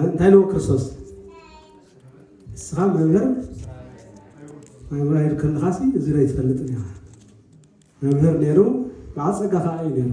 እንታይ ነው ክርስቶስ ንስኻ መምህር መምህር ከለኻሲ እዚ ዶ ይትፈልጥ እኒኻ መምህር ነይሩ ብዓፀጋ ከዓ እዩ ነይሩ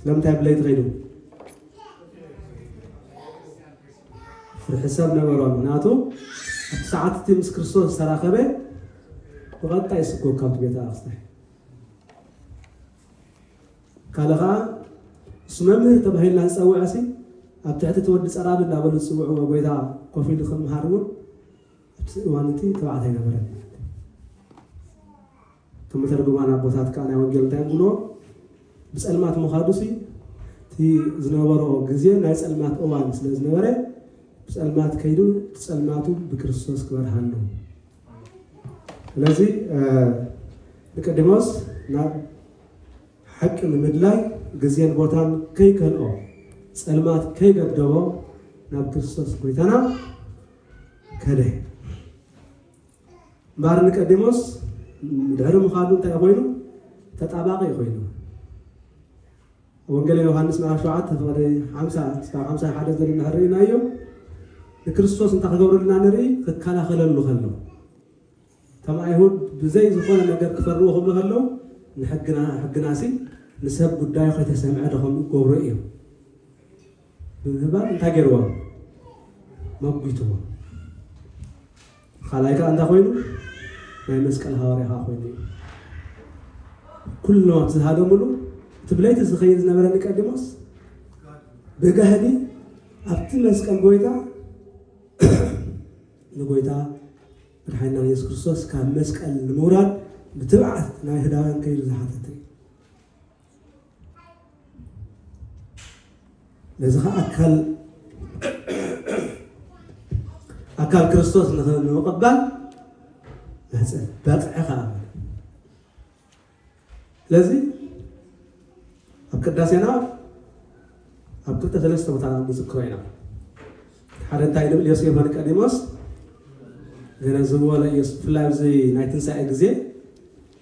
ስለምንታይ ብለይቲ ከይዱ ፍርሒ ሰብ ነበሮ ምክንያቱ እቲ ሰዓት እቲ ምስ ክርስቶስ ዝተራኸበ ብቐጥታ ይስጎ ካብቲ ቤተ ኣክስታይ ካልእ ከዓ እሱ መምህር ተባሂልና ዝፀውዐ ሲ ኣብ ትሕቲ እቲ ወዲ ፀራቢ እንዳበሉ ዝፅውዕዎ ጎይታ ኮፍ ኢሉ ክምሃር እውን ኣብቲ እዋን እቲ ተባዕታይ ነበረ እቶም መተርጉማን ኣቦታት ከኣ ናይ ወንጌል እንታይ ይብልዎ ብጸልማት ምኻዱሲ እቲ ዝነበሮ ግዜ ናይ ጸልማት እዋን ስለ ዝነበረ ብጸልማት ከይዱ ጸልማቱ ብክርስቶስ ክበርሃሉ ስለዚ ንቀዲሞስ ናብ ሓቂ ንምድላይ ግዜን ቦታን ከይከልኦ ጸልማት ከይገደቦ ናብ ክርስቶስ ጎይታና ከደ እምበኣር ኒቀዲሞስ ድሕሪ ምኻዱ እንታይ ኮይኑ? ተጣባቒ ኮይኑ። ኣብ ወንጌለ ዮሃንስ ምዕራፍ ሸውዓተ ፍቕዲ ሓምሳ እስካብ ሓምሳ ሓደ ዘሎ እንድሕር ርኢናዮ ንክርስቶስ እንታይ ክገብረልና ንርኢ? ክከላኸለሉ ከሎ እቶም ኣይሁድ ብዘይ ዝኾነ ነገር ክፈርዎ ክብሉ ከለዉ ንሕግና ሕግናሲ ንሰብ ጉዳዩ ከይተሰምዐ ዶ ከም ገብሩ እዮም ብምህባን እንታይ ገይርዎም መጒትዎም። ኻልኣይ ከኣ እንታይ ኮይኑ ናይ መስቀል ሃዋርያ ከኣ ኮይኑ እዩ። ኩሎም ኣብ ዝሃደምሉ እቲ ብለይቲ ዝኸይድ ዝነበረ ኒቀዲሞስ ብጋህዲ ኣብቲ መስቀል ጎይታ ንጎይታ መድሓኒና ኢየሱስ ክርስቶስ ካብ መስቀል ንምውራድ ብትብዓት ናይ ህዳውያን ከይዱ ዝሓተተ እዩ። ነዚ ከዓ ኣካል ኣካል ክርስቶስ ንምቕባል ማሕፀን ባፅዐ ከዓ ስለዚ ኣብ ቅዳሴና ኣብ ክልተ ሰለስተ ቦታ ንዝክሮ ኢና ሓደ እንታይ ንብል ዮሴፍ ወኒቀዲሞስ ገነዝብዎ ለኢየሱስ ብፍላይ ኣብዚ ናይ ትንሳኤ ግዜ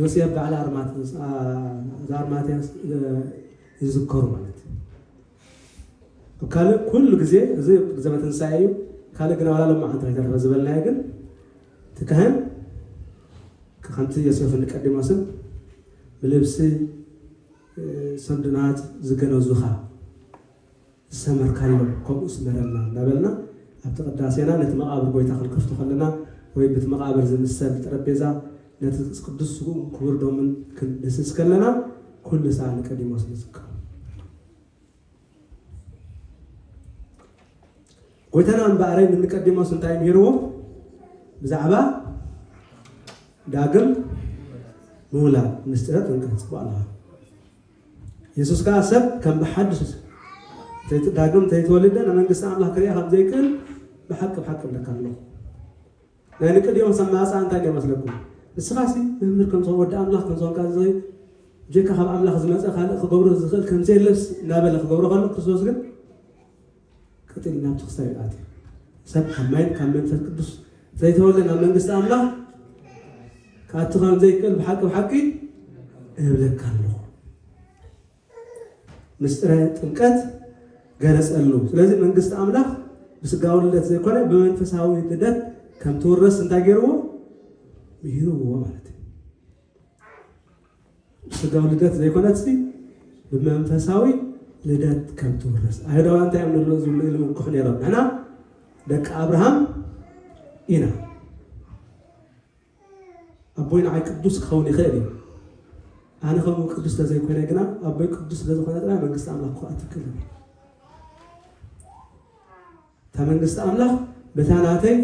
ዮሴፍ በዓል ኣርማትንስ፣ ኣርማትያንስ፣ ይዝከሩ ማለት እዩ። ካልእ ኩሉ ግዜ እዚ ግዘመ ትንሳኤ እዩ። ካልእ ግና ዋላ ሎማዓንቲ ከይተረፈ ዝበልናዮ ግን እቲ ካህን ከምቲ ዮሴፍን ንቀዲሞስን ብልብሲ ሰንዱናት ዝገነዙኻ ዝሰመርካዮ ከምኡ ስመረልና እንዳበልና ኣብቲ ቅዳሴና ነቲ መቓብር ጎይታ ክንከፍቶ ከለና ወይ ብቲ መቓብር ዝምሰል ጠረጴዛ ነቲ ቅዱስ ስግኡን ክቡር ደሙን ክንድህስስ ከለና ኩሉ ሳዕ ንቀዲሞስ ንዝክሮ። ጎይታና እምበኣረይ ንንቀዲሞስ እንታይ ምሂርዎ ብዛዕባ ዳግም ምውላድ ምስጢረ ጥምቀት ጽቡቅ ኣለኻ የሱስ ከኣ ሰብ ከም ብሓድሽ እንተ ዳግም እንተ ተወልደ ንመንግስቲ ኣምላኽ ክርኣ ከም ዘይክእል ብሓቂ ብሓቂ እብለካ ኣለኹ። ናይ ኒቆዲሞስ ኣመጻጽኣ እንታይ ነይሩ መስለኩም? ንስኻሲ መምህር ከም ዝኾን ወዲ ኣምላኽ ከም ዝኾንካ ዝኽእል ብጀካ ካብ ኣምላኽ ዝመጸ ካልእ ክገብሮ ዝኽእል ከም ዘየለስ እናበለ ክገብሮ ከሎ ክርስቶስ ግን ቀጢን ኢሉ ናብቲ ክሳድ ይኣቲ። ሰብ ካብ ማይን ካብ መንፈስ ቅዱስ ዘይተወልደ ናብ መንግስቲ ኣምላኽ ክኣቲ ከም ዘይክእል ብሓቂ ብሓቂ እብለካ ኣለኹ። ምስጢረ ጥምቀት ገለጸሉ። ስለዚ መንግስቲ ኣምላኽ ብስጋዊ ልደት ዘይኮነ ብመንፈሳዊ ልደት ከም ትውረስ እንታይ ገይርዎ ምሂርዎ ማለት እዩ። ብስጋዊ ልደት ዘይኮነትሲ ብመንፈሳዊ ልደት ከም ትውረስ ኣይሁዳውያን እንታይ እዮም ንብሎ ዝብሉ ኢሉ ውክሑ ነይሮም ንሕና ደቂ ኣብርሃም ኢና ኣቦይ ንዓይ ቅዱስ ክኸውን ይኽእል እዩ ኣነ ከምኡ ቅዱስ ተዘይኮነ ግና ኣቦይ ቅዱስ ስለዝኾነ ጥራይ መንግስቲ ኣምላኽ ክኣትክል እታ መንግስቲ ኣምላኽ በታ ናተይ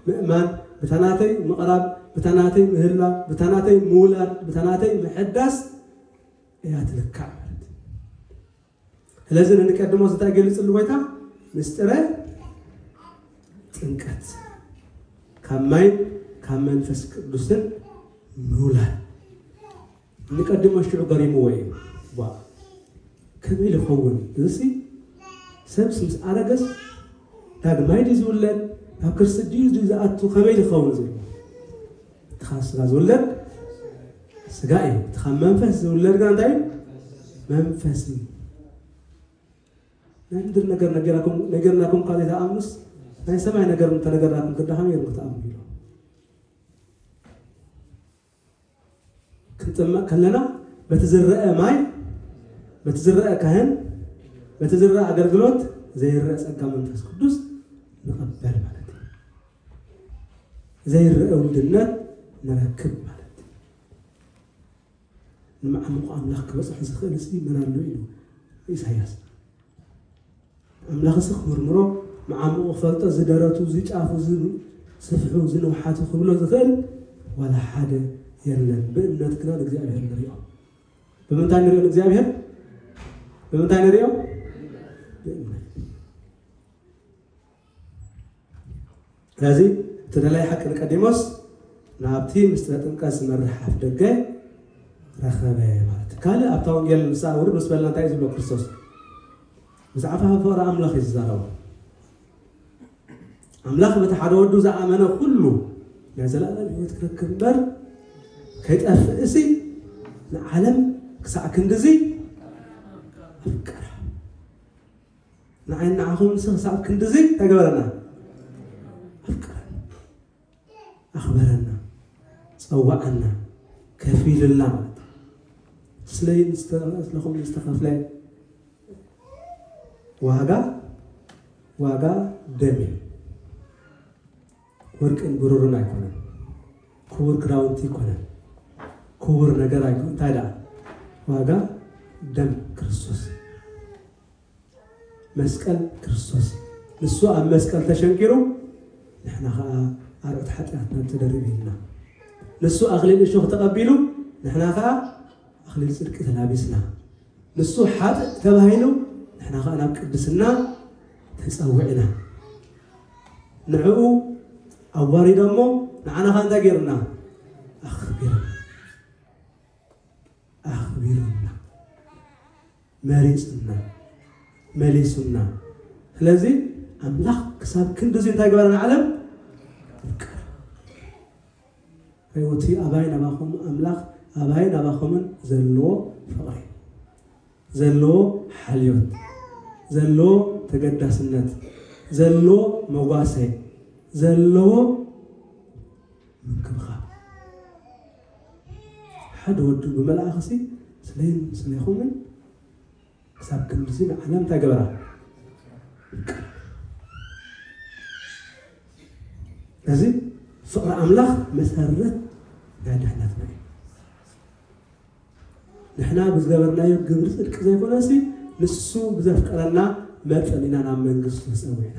ምእማን፣ በታ ናተይ ምቕራብ፣ በታ ናተይ ምህላው፣ በታ ናተይ ምውላድ፣ በታ ናተይ ምሕዳስ እያ ትልካዕ ማለት እዩ። ስለዚ ንንቀድሞ እንታይ ገሊፅሉ ጎይታ ምስጢረ ጥምቀት ካብ ማይን ካብ መንፈስ ቅዱስን ምውላድ ንቀድመ ሽዑ ገሪምዎ እዩ ቧእ ከመይ ልኸውን እዝሲ ሰብስ ምስ ኣረገስ ዳግማይ ድዩ ዝውለድ ናብ ክርሲ ድዩ ድዩ ዝኣቱ ከመይ ልኸውን ዝብል እትኻ ስጋ ዝውለድ ስጋ እዩ እትኻ መንፈስ ዝውለድ ግና እንታይ እዩ መንፈስ እዩ ናይ ምድር ነገር ነገርናኩም እኳ ዘይተኣምኑስ ናይ ሰማይ ነገር እንተነገርናኩም ክዳኸም የሩ ክትኣምኑ ኢሎም ክንጥመቕ ከለና በቲ ዝረኣ ማይ፣ በቲ ዝረኣ ካህን፣ በቲ ዝረኣ ኣገልግሎት ዘይረኣ ጸጋ መንፈስ ቅዱስ ንቐበል ማለት እዩ። ዘይረኣ ውድነት ንረክብ ማለት እዩ። ንመዓሙቕ ኣምላኽ ክበጽሖ ዝኽእል ህዝቢ መን ኣሎ ኢሉ ኢሳያስ ኣምላኽሲ ክምርምሮ መዓሙቑ ክፈልጦ እዚ ደረቱ እዚ ጫፉ እዚ ስፍሑ እዚ ንውሓቱ ክብሎ ዝኽእል ዋላ ሓደ የለን። ብእምነት ግና ንእግዚኣብሔር ንሪኦ። ብምንታይ ንሪኦ ንእግዚኣብሔር? ብምንታይ ንሪኦ? ብእምነት። ስለዚ እቲ ደላይ ሓቂ ንቀዲሞስ ናብቲ ምስጢረ ጥምቀት ዝመርሕ ኣፍ ደገ ረኸበ ማለት እዩ። ካልእ ኣብታ ወንጌል ንስኣ ውርድ ምስ በልና እንታይ እዩ ዝብሎ ክርስቶስ? ብዛዕባ ፍቕሪ ኣምላኽ እዩ ዝዛረቦ። ኣምላኽ በቲ ሓደ ወዱ ዝኣመነ ኩሉ ናይ ዘለኣለም ህይወት ክረክብ እምበር ከይጠፍእ እሲ ንዓለም ክሳዕ ክንድዚ ኣፍቀራ። ንዓይን ንዓኹምንሲ ክሳብ ክንድዚ እንታይ ገበረና? ኣፍቀረና፣ ኣኽበረና፣ ጸወዓና፣ ከፊሉልና ማለት እዩ። ስለይ ንስለኹም ንዝተኸፍለ ዋጋ ዋጋ ደም እዩ። ወርቅን ብሩርን ኣይኮነን። ክቡር ክዳውንቲ ኣይኮነን። ክቡር ነገር ኣይኮነን። እንታይ ደኣ ዋጋ ደም ክርስቶስ መስቀል ክርስቶስ እዩ። ንሱ ኣብ መስቀል ተሸንኪሩ ንሕና ኸኣ ኣርዑት ሓጢኣትና ተደሪብልና። ንሱ ኣኽሊል እሾኽ ተቐቢሉ ንሕና ኸኣ ኣኽሊል ጽድቂ ተላቢስና። ንሱ ሓጥእ ተባሂሉ ንሕና ኸኣ ናብ ቅድስና ተጸዊዕና። ንዕኡ ኣዋሪዶሞ ንዓና ኸኣ እንታይ ገይሩና? ኣኽቢሩና ኣኽቢሩና። መሪጹና መሊሱና ስለዚ ኣምላኽ ክሳብ ክንዲ እዚ እንታይ ገበረ ንዓለም ፍቅር ሕይወቲ ኣባይ ናባኹም ኣምላኽ ኣባይ ናባኹምን ዘለዎ ፍቕሪ ዘለዎ ሓልዮት ዘለዎ ተገዳስነት ዘለዎ መጓሰ ዘለዎ ምንክብኻብ ሓደ ወዱ ብመልኣኽሲ ስለይን ስለይኹምን ክሳብ ክንድዚ ንዓለም እንታይ ገበራ እዚ ፍቕሪ ኣምላኽ መሰረት ናይ ድሕነትና እዩ ንሕና ብዝገበርናዮ ግብሪ ፅድቂ ዘይኮነሲ ንሱ ብዘፍቀረና መጠን ኢና ናብ መንግስቱ ተፀዊዕና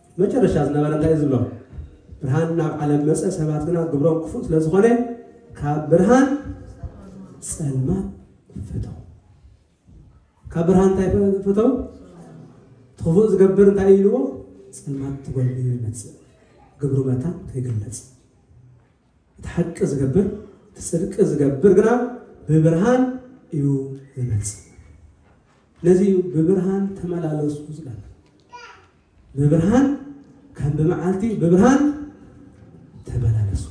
መጨረሻ ዝነበረ እንታይ እዩ ዝብሎ? ብርሃን ናብ ዓለም መጸ፣ ሰባት ግና ግብሮም ክፉእ ስለ ዝኾነ ካብ ብርሃን ጸልማት ፈተው። ካብ ብርሃን እንታይ ፈተው? ትኽፉእ ዝገብር እንታይ እዩ ኢልዎ? ጸልማት ትጎልብዩ ይመጽእ፣ ግብሩ መታን ከይግለጽ እቲ ሓቂ ዝገብር፣ እቲ ጽድቂ ዝገብር ግና ብብርሃን እዩ ዝመጽእ። ነዚ እዩ ብብርሃን ተመላለሱ ዝበለ። ብብርሃን ከም ብመዓልቲ ብብርሃን ተመላለሱ።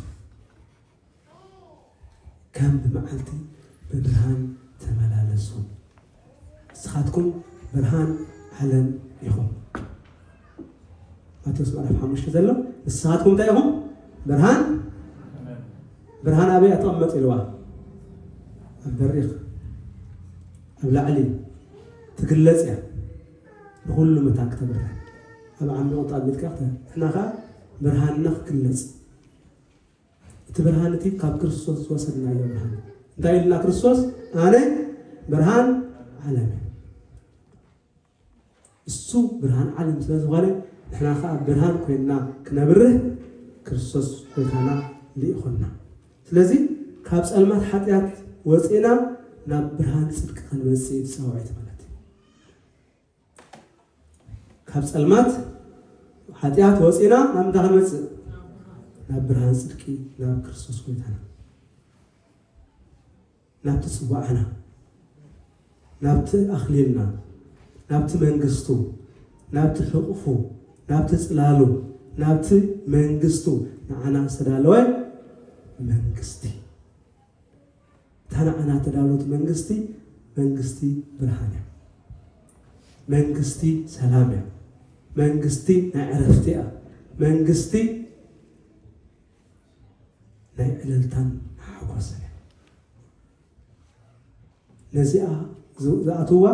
ከም ብመዓልቲ ብብርሃን ተመላለሱ። ንስኻትኩም ብርሃን ዓለም ኢኹም። ማቴዎስ ምዕራፍ ሓሙሽተ ዘሎ ንስኻትኩም እንታይ ኢኹም? ብርሃን ብርሃን ኣበይ ኣተቐመጥ ኢልዋ ኣብ በሪኽ ኣብ ላዕሊ ትግለጽ እያ ንኹሉ መታን ክተብርህ ኣብ ዓሚቕ ጣቢልካ ንሕና ከዓ ብርሃንና ክግለጽ እቲ ብርሃን እቲ ካብ ክርስቶስ ዝወሰድናዮ ብርሃን እዩ። እንታይ ኢሉና ክርስቶስ? ኣነ ብርሃን ዓለም እዩ። እሱ ብርሃን ዓለም ስለ ዝኾነ ንሕና ከዓ ብርሃን ኮይንና ክነብርህ ክርስቶስ ጎይታና ልኢኹና። ስለዚ ካብ ጸልማት ሓጢኣት ወፂእና ናብ ብርሃን ጽድቂ ክንመጽእ እዩ ጻውዒት ማለት እዩ። ካብ ጸልማት ሓጢኣት ወጺና ናብ እንታይ ክንመጽእ ናብ ብርሃን ጽድቂ ናብ ክርስቶስ ጎይታና ናብቲ ጽዋዕና ናብቲ ኣኽሊልና ናብቲ መንግስቱ ናብቲ ሕቑፉ ናብቲ ጽላሉ ናብቲ መንግስቱ ንዓና ዝተዳለወ መንግስቲ እታ ንዓና እተዳሎት መንግስቲ፣ መንግስቲ ብርሃን እያ። መንግስቲ ሰላም እያ። መንግስቲ ናይ ዕረፍቲ እያ። መንግስቲ ናይ ዕልልታን ሓጎስን እያ። ነዚኣ ዝኣትዋ፣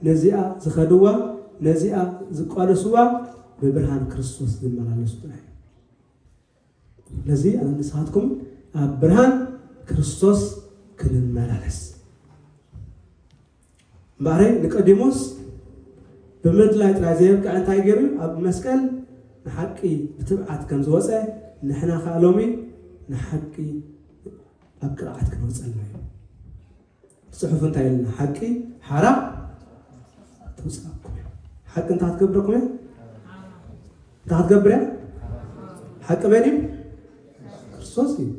ነዚኣ ዝኸድዋ፣ ነዚኣ ዝቋደስዋ ብብርሃን ክርስቶስ ዝመላለሱ ጥራይ እዮም። ስለዚ ኣነ ንስኻትኩም ኣብ ብርሃን ክርስቶስ ክንመላለስ እምበኣረይ ንቀዲሞስ ብምድላይ ጥራይ ዘየብቅዐ እንታይ ገይሩ እዩ ኣብ መስቀል ንሓቂ ብትብዓት ከም ዝወፀ ንሕና ከዓ ሎሚ ንሓቂ ኣብ ቅርዓት ክንወፀላ እዩ ጽሑፍ እንታይ ኢልና ሓቂ ሓራ ተውጽኣኩም እያ ሓቂ እንታይ ክትገብረኩም እያ እንታይ ክትገብር እያ ሓቂ መን እዩ ክርስቶስ እዩ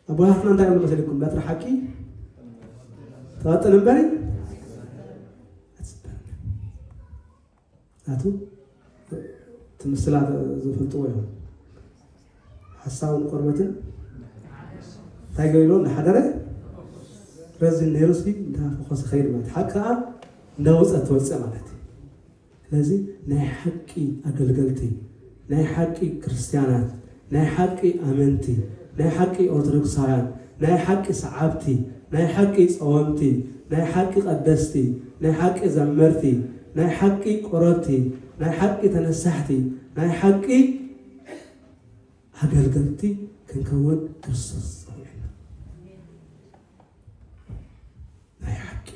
ኣቦታትና እንታይ እዮም መሰሊኩም በትሪ ሓቂ ትቐጥን እምበሪ ኣቲ እቲ ምስላ ዝፈልጥዎ እዮም ሓሳዊ ንቆርበትን እንታይ ገሊሎ እናሓደረ ረዚን ነይሩ ሲ እንተፈኾሰ ከይድ ማለት ሓቂ ከዓ እንዳወፀት ትወፅእ ማለት እዩ ስለዚ ናይ ሓቂ ኣገልገልቲ ናይ ሓቂ ክርስትያናት ናይ ሓቂ ኣመንቲ፣ ናይ ሓቂ ኦርቶዶክሳውያን፣ ናይ ሓቂ ሰዓብቲ፣ ናይ ሓቂ ጸወምቲ፣ ናይ ሓቂ ቀደስቲ፣ ናይ ሓቂ ዘመርቲ፣ ናይ ሓቂ ቁረብቲ፣ ናይ ሓቂ ተነሳሕቲ፣ ናይ ሓቂ ኣገልገልቲ ክንከውን ክርስቶስ ጸዊዑና። ናይ ሓቂ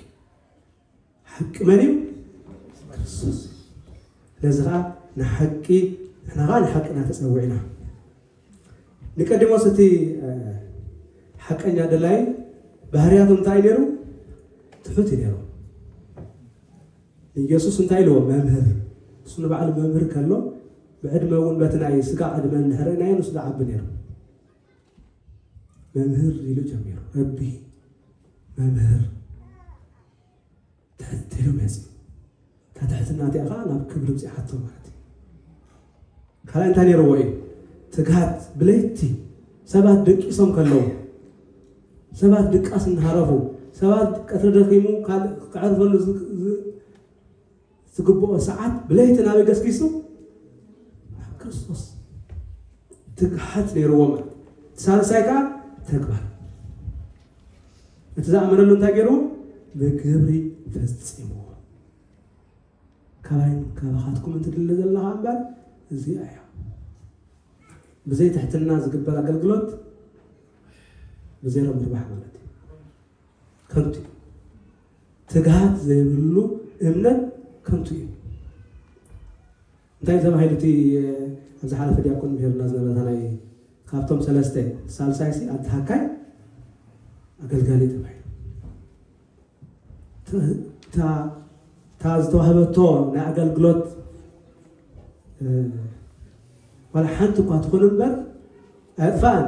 ሓቂ መን እዩ? ክርስቶስ እዩ። ስለዚ ኸዓ ንሓቂ ንሕና ኸዓ ንሓቂ ኢና ተፀዊዕና። ንቀዲሞስ እቲ ሓቀኛ ደላይ ባህርያቱ እንታይ እዩ ነይሩ? ትሑት እዩ ነይሩ። ንኢየሱስ እንታይ ኢልዎ? መምህር። እሱ ንባዕሉ መምህር ከሎ ብዕድመ እውን በቲ ናይ ስጋ ዕድመ እንድሕር ርኢናዮ ንሱ ዝዓቢ ነይሩ። መምህር ኢሉ ጀሚሩ ረቢ መምህር ትሕት ኢሉ መፅ እታ ትሕትና እቲኣ ከዓ ናብ ክብሪ ብፅሓቶ ማለት እዩ ካልኣይ እንታይ ነይርዎ እዩ ትግሃት ብለይቲ ሰባት ደቂሶም ከለዉ ሰባት ድቃስ እናሃረፉ ሰባት ቀትሪ ደኺሙ ካልእ ክዕርፈሉ ዝግብኦ ሰዓት ብለይቲ ናበይ ገስጊሱ? ናብ ክርስቶስ። ትግሃት ነይርዎ ማለት እዩ። እቲ ሳልሳይ ከዓ ተግባር። እቲ ዝኣመነሉ እንታይ ገይርዎ? ብግብሪ ፈፂምዎ። ካባይን ካባኻትኩምን ትድለ ዘላ ከዓ እምበር እዚኣ እያ። ብዘይ ትሕትና ዝግበር ኣገልግሎት ብዜሮ ምርባሕ ማለት እዩ። ከንቱ እዩ። ትግሃት ዘይብሉ እምነት ከንቱ እዩ። እንታይ ተባሂሉ እቲ ኣብ ዝሓለፈ ዲያቆን ምሄርና ዝነበረታ ናይ ካብቶም ሰለስተ ሳልሳይ ሲ ኣድሃካይ ኣገልጋሊ ተባሂሉ እታ ዝተዋህበቶ ናይ ኣገልግሎት ዋላ ሓንቲ እኳ ትኹን እምበር ኣየጥፋእን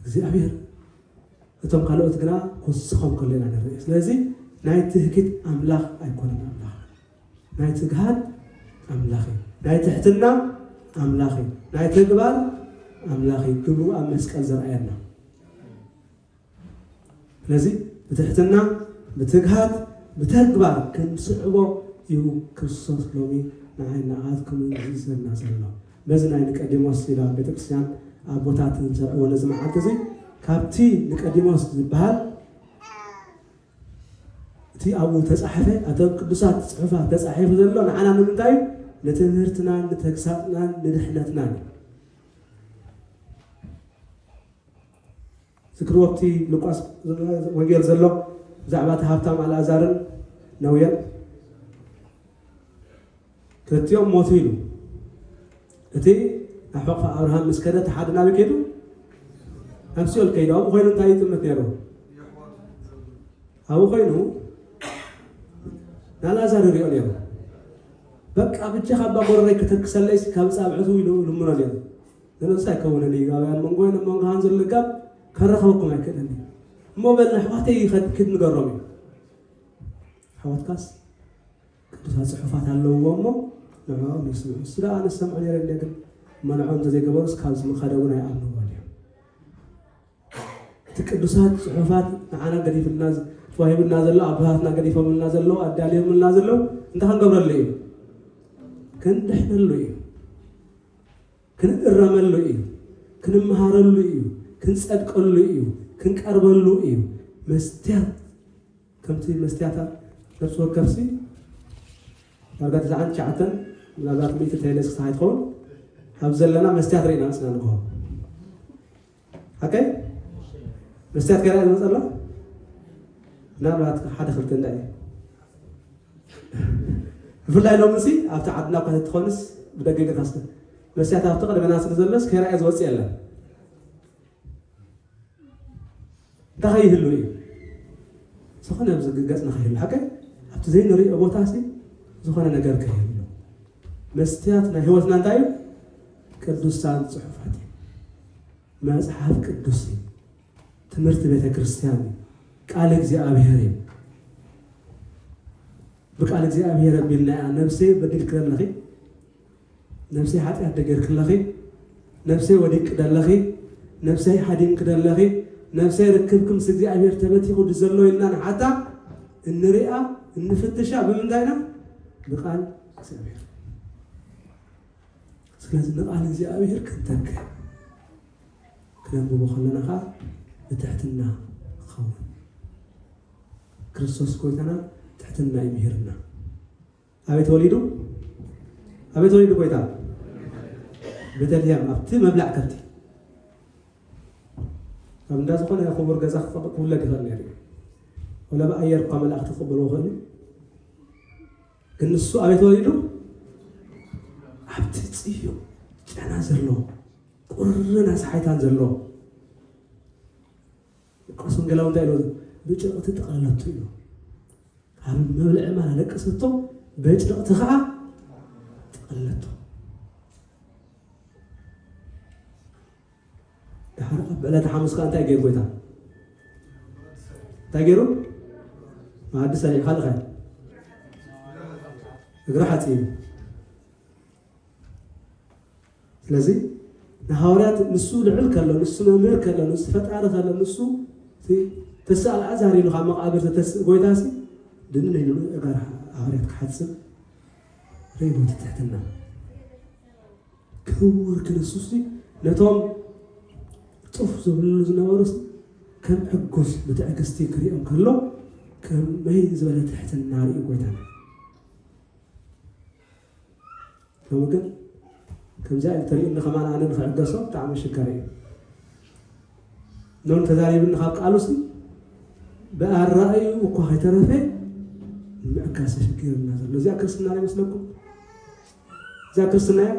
እግዚኣብሔር እቶም ካልኦት ግና ክውስኾም ከሎ ኢና ንርኢ ስለዚ ናይ ትህኪት ኣምላኽ ኣይኮነን ኣምላኽና ናይ ትግሃት ኣምላኽ እዩ ናይ ትሕትና ኣምላኽ እዩ ናይ ተግባር ኣምላኽ እዩ ግብሩ ኣብ መስቀል ዘርኣየና ስለዚ ብትሕትና ብትግሃት ብተግባር ክንስዕቦ እዩ ክርስቶስ ሎሚ ንዓይ ንዓትኩምን ዝእዝዘና ዘሎ። በዚ ናይ ንቀዲሞስ ይብላ ቤተክርስቲያን ኣቦታት እንሰርዕዎ ነዚ መዓልቲ እዚ ካብቲ ንቀዲሞስ ዝበሃል እቲ ኣብኡ ተጻሕፈ ኣብቶም ቅዱሳት ጽሑፋት ተጻሒፉ ዘሎ ንዓና ንምንታይ እዩ ንትምህርትናን ንተግሳጽናን ንድሕነትናን እዩ። ዝክርዎብቲ ሉቃስ ወንጌል ዘሎ ብዛዕባ እቲ ሃብታም ኣልኣዛርን ነውየን ክልቲኦም ሞቱ ኢሉ እቲ ኣብ ሕቕፋ ኣብርሃም ምስ ከደ እቲ ሓደ ናበይ ከይዱ ኣብ ሲኦል ከይዱ ኣብኡ ኮይኑ እንታይ ይጥምት ነይሩ ኣብኡ ኮይኑ ንኣልኣዛር ይሪኦ ነይሩ በቃ ብጀኻ ኣባ ጎረረይ ከተክሰለይስ ካብ ፃብዕቱ ኢሉ ልምኖ ነይሩ ዝነውጽ ኣይከውንን እዩ ኣብ ኣብ መንጎይን ኣብ መንጎኻን ዘሎ ጋብ ከራኽበኩም ኣይክእልን እዩ እሞ በል ንኣሕዋተይ ይኸድ ክድ ንገሮም እዩ ኣሕዋትካስ ቅዱሳት ጽሑፋት ኣለውዎ እሞ ንዕኦም ይስምዑ ንሱ ደኣ ኣነ ዝሰምዖ ነይረ እንደ ግን እሞ ንዕኦም እንተዘይገበሩስ ካብዚ ምኸደ እውን ኣይኣምንዎን እዮም እቲ ቅዱሳት ጽሑፋት ንዓና ገዲፍልና ተዋሂቡና ዘሎ ኣቦታትና ገዲፎምልና ዘለዉ ኣዳልዮምልና ዘለዉ እንታይ ክንገብረሉ እዩ ክንድሕነሉ እዩ ክንእረመሉ እዩ፣ ክንመሃረሉ እዩ፣ ክንጸድቀሉ እዩ፣ ክንቀርበሉ እዩ። መስትያት ከምቲ መስትያታት ነፍሲ ወከፍሲ ዳርጋ ትስዓን ትሽዓተን ምናልባት ሚእቲ ተይለስ ክሳዕ ይትኸውን ኣብ ዘለና መስትያት ርኢና ንስና ንግሆ ሓቀይ መስትያት ገና ይመፅ ኣሎ ምናልባት ሓደ ክልተ እንዳ እዩ ብፍላይ ሎሚ ሲ ኣብቲ ዓድና እኳ ተትኾንስ ብደገ ገታስ መስትያት ኣብቲ ቅድመና ስለ ዘሎስ ከይረኣየ ዝወፅእ የለን እንታይ ከይህሉ እዩ ዝኾነ ብዝግገፅ ንኸይህሉ ሓቀይ ኣብቲ ዘይንሪኦ ቦታ ሲ ዝኾነ ነገር ከይህሉ መስትያት ናይ ሕይወትና እንታይ እዩ? ቅዱሳን ጽሑፋት እዩ። መጽሓፍ ቅዱስ እዩ። ትምህርቲ ቤተ ክርስቲያን እዩ። ቃል እግዚኣብሔር እዩ። ብቃል እግዚኣብሔር ኣቢልና እያ ነብሰይ በዲልክለለኺ ነብሰይ ሓጢኣት ደገርክለኺ ነፍሰይ ወዲቅኪ ደለኺ ነፍሰይ ሃዲምኪ ደለኺ ነፍሰይ ርክብኪ ምስ እግዚኣብሄር ተበቲኹ ድዩ ዘሎ ኢልና ንሓታ እንሪኣ እንፍትሻ ብምንታይ ኢና ንቃል እግዚኣብሄር ስለዚ ንቃል እግዚኣብሄር ክንተክእ ክነንብቦ ከለና ከዓ ብትሕትና ክኸውን ክርስቶስ ጎይታና ትሕትና ይምህርና ኣበይ ተወሊዱ? ኣበይ ተወሊዱ ጎይታ? ቤተልሔም ኣብቲ መብልዕ ከብቲ ኣብ እንዳ ዝኾነ ክቡር ገዛ ክፈቅ ክውለድ ይኽእል ነይሩ እዩ። ወላ ብኣየር እኳ መላእኽቲ ክቕበልዎ ክእል እዩ። ግን ንሱ ኣበይ ተወሊዱ? ኣብቲ ጽዩ ጨና ዘሎ ቁርን ኣስሓይታን ዘሎ ሉቃስ ወንጌላዊ እንታይ ኢሉ ኣሎ? ብጭቕቲ ጠቕለለቶ ኢሉ። ካብ መብልዒ ማል ኣለቀሰቶ፣ በጭቕቲ ከዓ ጠቕለለቶ። ድሓር ኣብ ዕለተ ሓሙስ ከዓ እንታይ ገይሩ ጎይታ? እንታይ ገይሩ? መኣዲ ሰሪዑ ካልእ ኸ እግሪ ሓፂቡ ስለዚ ንሃዋርያት ንሱ ልዑል ከሎ ንሱ መምህር ከሎ ንሱ ፈጣሪ ከሎ ንሱ ተስኣ ኣዛሪሉ ካብ መቃብር ዘተስእ ጎይታ ሲ ድንን ኢሉ እጋር ሃዋርያት ክሓጽብ ርእይዎ ትትሕትና ክቡር ክርስቶስ ነቶም ጡፍ ዝብልሉ ዝነበሩ ከም ዕጉስ ብትዕግስቲ ክሪኦም ከሎ ከመይ ዝበለ ትሕትና ርኢ ጎይታና ሎሚ ግን ከምዚኣ እንተሪኡኒ ከማን ኣነ ንክዕገሶ ብጣዕሚ ኣሸጋሪ እዩ ኖን ተዛሪብኒ ካብ ቃሉሲ ብኣራእዩ እኳ ከይተረፈ ምዕጋስ ተሸጊርና ዘሎ እዚኣ ክርስትና ዶ ይመስለኩም እዚኣ ክርስትና እያ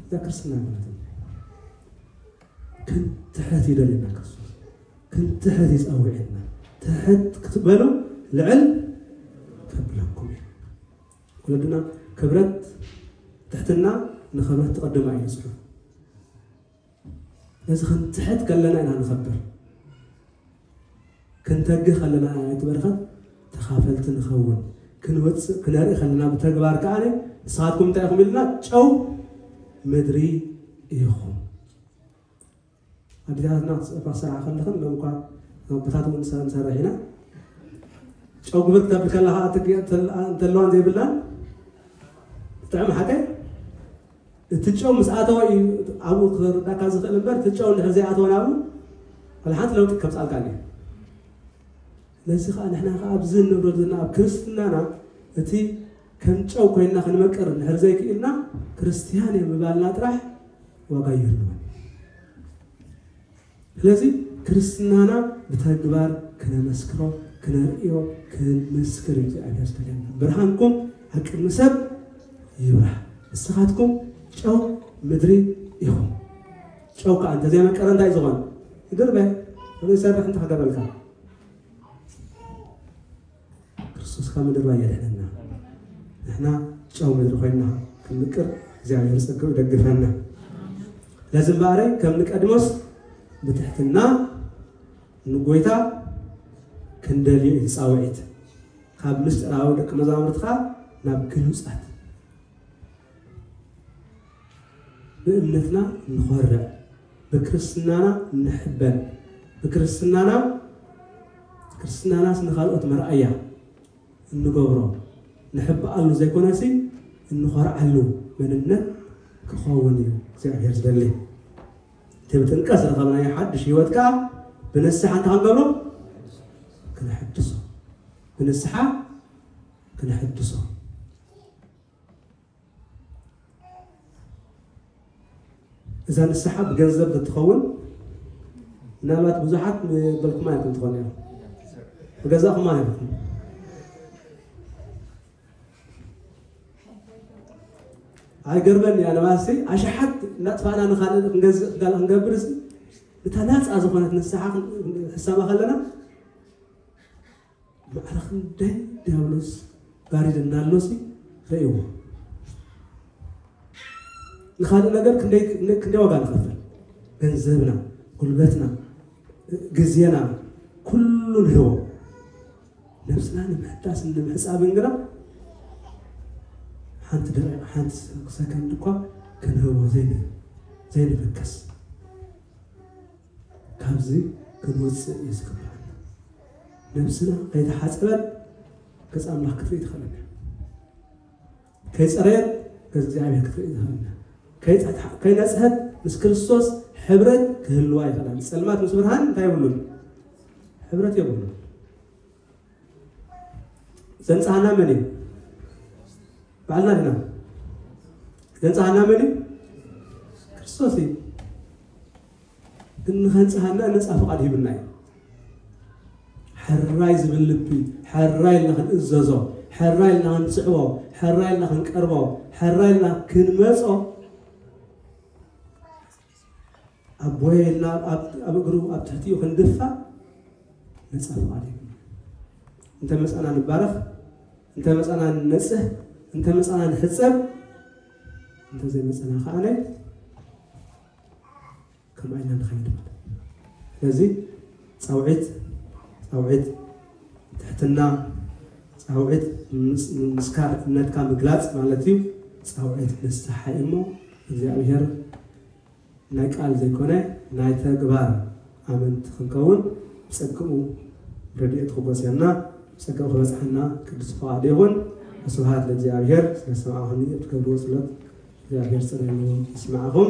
እዛ ክርስትና ማለት እዩ ክንትሕት ይደልየና ክርስቶስ ክንትሕት ይፀውዕና ትሕት ክትበሉ ልዕል ከብለኩም እዩ ወለድና ክብረት ትሕትና ንክብረት ትቅድማ ኢሉ ጽሑፍ ስለዚ ክንትሕት ከለና ኢና ንኸብር ክንተግህ ከለና ኢና ናይቲ በረኸት ተኻፈልቲ ንኸውን ክንወፅእ ክነርኢ ከለና ብተግባር ከዓ ንስኻትኩም እንታይ ኢኹም ኢልና ጨው ምድሪ ኢኹም ኣዴታትና እኳ ዝሰርሓ ከለኽን ሎሚ እኳ ኣቦታት እውን ንሰን ንሰርሕ ኢና ጨው ግብር ክትብል ከላ ከዓ እቲ እንተለዋን ዘይብላን ትጥዕም ሓቀይ እቲ ጨው ምስ ኣተወ እዩ ኣብኡ ክርዳእካ ዝኽእል እምበር እቲ ጨው እንድሕር ዘይኣተወ ናብኡ ወላ ሓንቲ ለውጢ ከምፃልካን እዩ ነዚ ከዓ ንሕና ከዓ ኣብዚ ንብረሉ ዘለና ኣብ ክርስትናና እቲ ከም ጨው ኮይንና ክንመቅር እንድሕር ዘይክኢልና ክርስትያን እየ ምባልና ጥራሕ ዋጋ ይህልዎን እዩ። ስለዚ ክርስትናና ብተግባር ክነመስክሮ ክነርእዮ ክንምስክር እዩ እግዚኣብሔር ዝተደልና። ብርሃንኩም ኣብ ቅድሚ ሰብ ይብራህ፣ ንስኻትኩም ጨው ምድሪ ኢኹም። ጨው ከዓ እንተዘይመቀረ እንታይ እዩ ዝኾነ? ይድርበ ዘይሰርሕ እንተክገብረልካ ክርስቶስ ካብ ምድርባይ የድሕነና ንሕና ጨው ምድሪ ኮይና ክንምቅር እግዚኣብሔር ጸጋኡ ይደግፈና። ለዝማሬ ከም ንቀድሞስ ብትሕትና ንጎይታ ክንደልዮ እዩ ጻውዒት ካብ ምስጢራዊ ደቂ መዛሙርትኻ ናብ ግሉጻት ብእምነትና እንኾርዕ፣ ብክርስትናና እንሕበን፣ ብክርስትናና ክርስትናናስ ንኻልኦት መርኣያ እንገብሮ ንሕብኣሉ ዘይኮነሲ እንኾርዓሉ መንነት ክኸውን እዩ እግዚኣብሔር ዝደሊ እቲ ብጥምቀት ዝረኸብናዮ ሓድሽ ህይወት ከዓ ብንስሓ እንታይ ክንገብሮ ክነሕድሶ ብንስሓ ክነሕድሶ እዛ ንስሓ ብገንዘብ ተትኸውን ምናልባት ብዙሓት ምበልኩማ ኢኹም ትኾኑ እዮም ብገዛኹማ ኢኹም ኣይገርመን እያ ንባሲ ኣሽሓት እናጥፋእና ንካልእ ክንገዝእ ካልእ ክንገብር እታ ናፃ ዝኾነት ንስሓ ሕሰባ ከለና ማዕረ ክንደይ ዲያብሎስ ጋሪድ እንዳሎሲ ረእይዎ ንኻልእ ነገር ክንደይ ዋጋ ንኸፍል ገንዘብና ጉልበትና ግዜና ኩሉ ንህቦ ነብስና ንምሕዳስ ንምሕፃብን ግና ሓንቲ ደቂቕ ሓንቲ ሰከንድ እኳ ክንህቦ ዘይንፈከስ ካብዚ ክንወፅእ እዩ ዝግባኣና። ነብስና ከይተሓፀበት ገፅ ኣምላኽ ክትርኢ ትኽእል እያ። ከይፀረየት ገፅ እግዚኣብሔር ክትርኢ ትኽእል እያ። ከይፀ- ከይነፅሀት ምስ ክርስቶስ ሕብረት ክህልዋ ይኽእላን ፀልማት ምስ ብርሃን እንታይ የብሉን ሕብረት የብሉን። ዘንፀሃና መን እዩ? ባዕልና ድና ዘንፀሃና መን እዩ? ክርስቶስ እዩ። ግን ንኸንጽሃና ነጻ ፍቓድ ሂቡና እዩ። ሕራይ ዝብል ልቢ ሕራይ ኢልና ክንእዘዞ፣ ሕራይ ኢልና ክንስዕቦ፣ ሕራይ ኢልና ክንቀርቦ፣ ሕራይ ኢልና ክንመጾ ኣቦየ ኢልና ኣብ እግሩ ኣብ ትሕቲኡ ክንድፋእ ነጻ ፍቓድ እዩ። እንተ መጻና ንባረኽ፣ እንተ መጻና ንነጽህ፣ እንተ መጻና ንሕጸብ፣ እንተ ዘይመጻና ከኣነ ከማይ ኢና ንኸይድ ማለት እዩ። ስለዚ ፃውዒት ፃውዒት ትሕትና ፃውዒት ምስካር እምነትካ ምግላፅ ማለት እዩ። ፃውዒት ንስሓ እሞ እግዚኣብሔር ናይ ቃል ዘይኮነ ናይ ተግባር ኣመንቲ ክንከውን ብጸግኡ ረዲኤቱ ክጎስየና ብጸጋኡ ክበጽሓና ቅዱስ ፍቃዱ ይኹን። ወስብሃት ለእግዚኣብሔር። ስለ ዝሰማዕኹምኒ እትገብርዎ ጸሎት እግዚኣብሔር ጸሎትኒ እውን ይስምዓኹም።